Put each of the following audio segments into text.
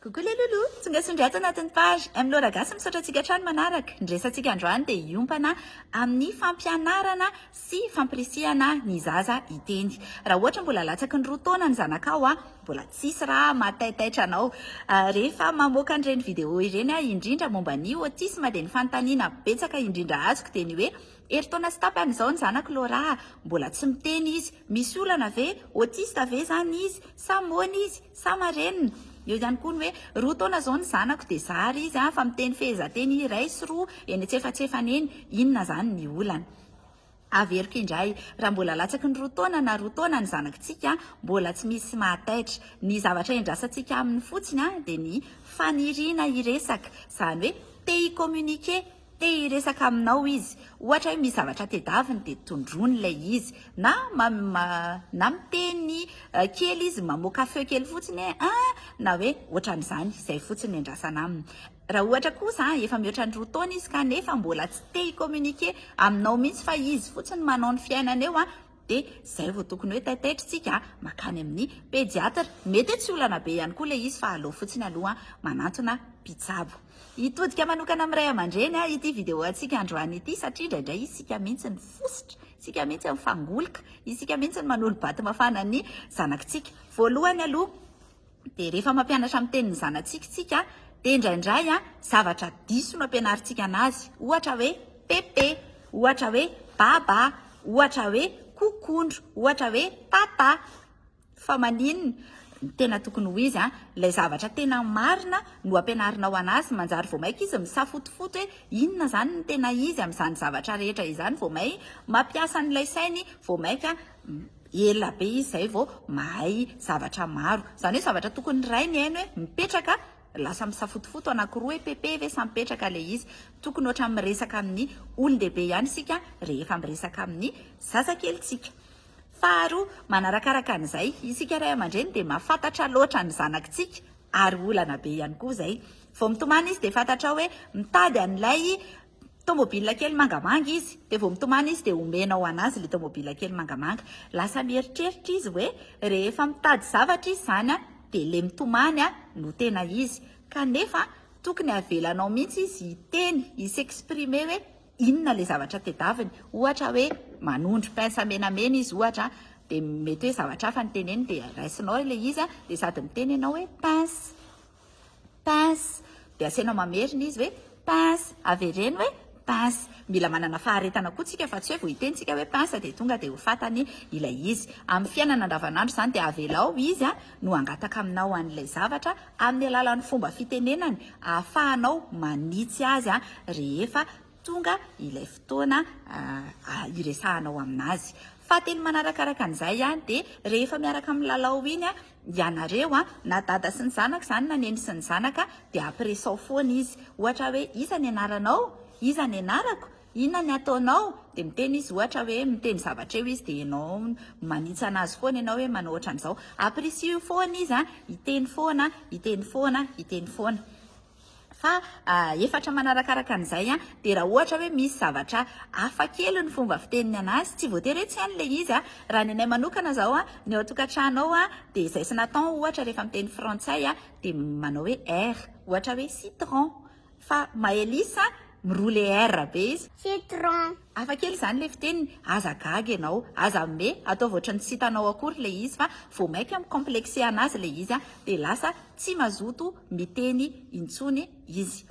Coucou les loulous, tonga soa indray ato anatin'ny page. M Laura Gasy misaotra antsika hatrany manaraka. Ny resantsika androany dia hiompana amin'ny fampianarana sy fampirisihana ny zaza hiteny. Raha ohatra mbola latsaky ny roa taona ny zanakao, mbola tsisy raha mahataitaitra anao. Rehefa mamoaka an'ireny vidéo ireny aho indrindra momba ny autisme dia ny fanontaniana betsaka indrindra azoko dia ny hoe, herintaona sy tapany izao ny zanako Laura, mbola tsy miteny izy, Misy olana ve? Autiste ve zany izy? Sa moana izy? Sa marenina? Eo ihany koa ny hoe roa taona zao ny zanako dia zary izy fa miteny fehezanteny iray sy roa eny antsefatsefany eny, inona zany ny olana? Averiko indray, raha mbola latsaky ny roa taona na roa taona ny zanakitsika mbola tsy misy mahataitra, ny zavatra iandrasantsika aminy fotsiny dia ny faniriana hiresaka, zany hoe te hi-communiquer, Te hiresaka aminao izy. Ohatra hoe misy zavatra tedaviny dia tondroiny ilay izy. Na na miteny kely izy, mamoaka feo kely fotsiny hoe ah! na hoe ohatran'izany. Izay fotsiny no iandrasana aminy. Raha ohatra kosa efa mihoatra ny roa taona izy kanefa mbola tsy te hi-communiquer aminao mihitsy fa izy fotsiny manao ny fiainany eo, Dia izay vao tokony hoe taitaitrintsika makany amin'ny pediatra. Mety hoe tsy olana be ihany koa ilay izy fa aleo fotsiny aloha manantona mpitsabo. Hitodika manokana amin'ny ray aman-dreny aho ity video antsika androany ity satria indraindray isika mihitsy no fositra, isika mihitsy no fangoloka, isika mihitsy no manolo-bato mafana ny zanakitsika. Voalohany aloha, Dia rehefa mampianatra amin'ny tenin'ny zanatsika isika dia indraindray zavatra diso no ampianarintsika anazy, ohatra hoe pepe, ohatra hoe baba, ohatra hoe kokondro, ohatra hoe tata. Fa maninona? Ny tena tokony ho izy, ilay zavatra tena marina no ampianarinao anazy, manjary vao mainka izy misafotofoto hoe inona izany ny tena izy amin'izany zavatra rehetra izany, vao may mampiasa an'ilay sainy vao mainka ela be izy zay vao mahay zavatra maro, zany hoe zavatra tokony ny ray mihaino hoe mipetraka lasa misafotofoto anakiroa hoe pepe ve sa mipetraka ilay izy, tokony ohatrany miresaka amin'ny olon-dehibe ihany isika rehefa miresaka amin'ny zazakelintsika. Faharoa, manarakaraka an'izay, isika ray aman-dreny dia mahafantatra loatra ny zanakintsika ary olana be ihany koa izay, vao mitomany izy dia fantatrao hoe mitady an'ilay Tomobile kely mangamanga izy, dia vao mitomany izy dia omena ho an'azy ilay tomobile kely mangamanga. Lasa mieritreritra izy hoe rehefa mitady zavatra izy izany dia ilay mitomany no tena izy. Kanefa tokony avelanao mihitsy izy hiteny, hi-s'exprimer hoe inona ilay zavatra tedaviny. Ohatra hoe manondro pince menamena izy ohatra, dia mety hoe zavatra hafa no teneniny dia raisinao ilay izy dia sady miteny ianao hoe pince. Pince, dia asainao mamerina izy hoe pince, avereno hoe pince. Mila manana faharetana koa tsika fa tsy hoe vao hiteny tsika hoe pince dia tonga dia ho fatany ilay izy. Amin'ny fiainana andavanandro izany dia avelao izy no hangataka aminao an'ilay zavatra amin'ny alalan'ny fomba fitenenany ahafahanao manitsy azy rehefa tonga ilay fotoana hiresahanao amin'azy. Fahatelo manarakaraka an'izay dia rehefa miaraka milalao iny ianareo, na dada sy ny zanaka izany na neny sy ny zanaka, dia ampiresao foana izy. Ohatra hoe, iza ny anaranao? Iza ny anarako? Inona ny ataonao? Dia miteny izy ohatra hoe, miteny zavatra eo izy dia ianao manitsana azy foana ianao hoe manao ohatran'izao. Ampirisiho foana izy hiteny foana, hiteny foana, hiteny foana. Fa efatra manarakaraka an'izay an, dia raha ohatra hoe misy zavatra hafa kely ny fomba fiteniny anazy, tsy voatery hoe tsy hainy ilay izy an, raha ny anay manokana zao an, ny ao an-tokantrano ao an, dia izay sy Nathan ohatra rehefa miteny frantsay an, dia manao hoe er, ohatra hoe citron, fa Maëlys an, miroule er be izy. Citron. Hafa kely izany ilay fiteniny, aza gaga ianao, aza mime, ataovy ohatran'ny tsy hitanao akory ilay izy fa vao maika mi-complexer anazy ilay izy dia lasa tsy mazoto miteny intsony izy.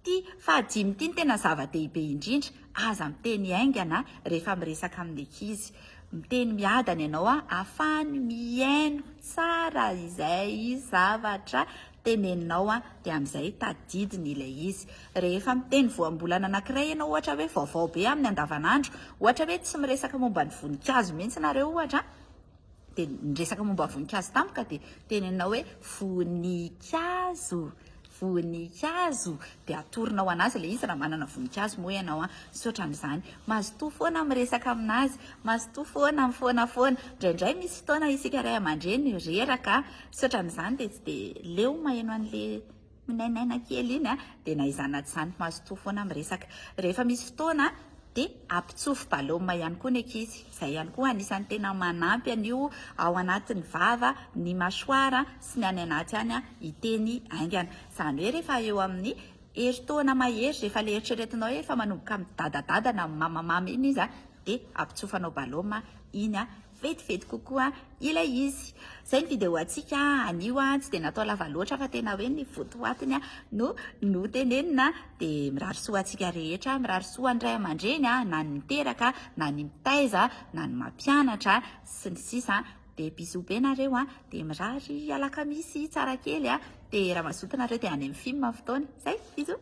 Ity fahadimy ity no tena zava-dehibe indrindra, aza miteny haingana rehefa miresaka amin'ny ankizy. Miteny miadana ianao ahafahany mihaino tsara izay zavatra teneninao an, dia amin'izay tadidiny ilay izy. Rehefa miteny voambolana anankiray ianao ohatra hoe vaovao be amin'ny andavanandro, ohatra hoe tsy miresaka momba ny voninkazo mihitsy nareo ohatra, dia niresaka momba ny voninkazo tampoka dia teneninao hoe voninkazo, voninkazo, dia atoronao an'azy ilay izy raha manana voninkazo moa ianao an, misaotra amin'izany. Mazotoa foana miresaka amin'azy, mazotoa foana mifoana foana, indraindray misy fotoana isika ray aman-dreny reraka, Misaotra amin'izany dia tsy dia leo maheno an'le minainaina kely iny a! Dia na izany na tsy izany mazotoa foana miresaka. Rehefa misy fotoana dia ampitsofy balôma ihany koa ny ankizy. Izay ihany koa anisan'ny tena manampy an'io ao anatin'ny vava, ny mâchoire sy ny any anaty any hiteny haingana. Izany hoe rehefa eo amin'ny herintaona mahery, rehefa ilay eritreretinao hoe efa manomboka midadadada na mamamama iny izy dia ampitsofanao balôma iny Vetivety kokoa ilay izy. Izay ny video antsika anio, tsy dia natao lava loatra fa tena hoe ny votoatiny no notenenina, dia mirary soa antsika rehetra, mirary soa an'ny ray aman-dreny na ny miteraka na ny mitaiza na ny mampianatra sy ny sisa, dia bisous be nareo, dia mirary alakamisy tsara kely, dia raha mazoto nareo dia any amin'ny film fotoana, izay, bisous.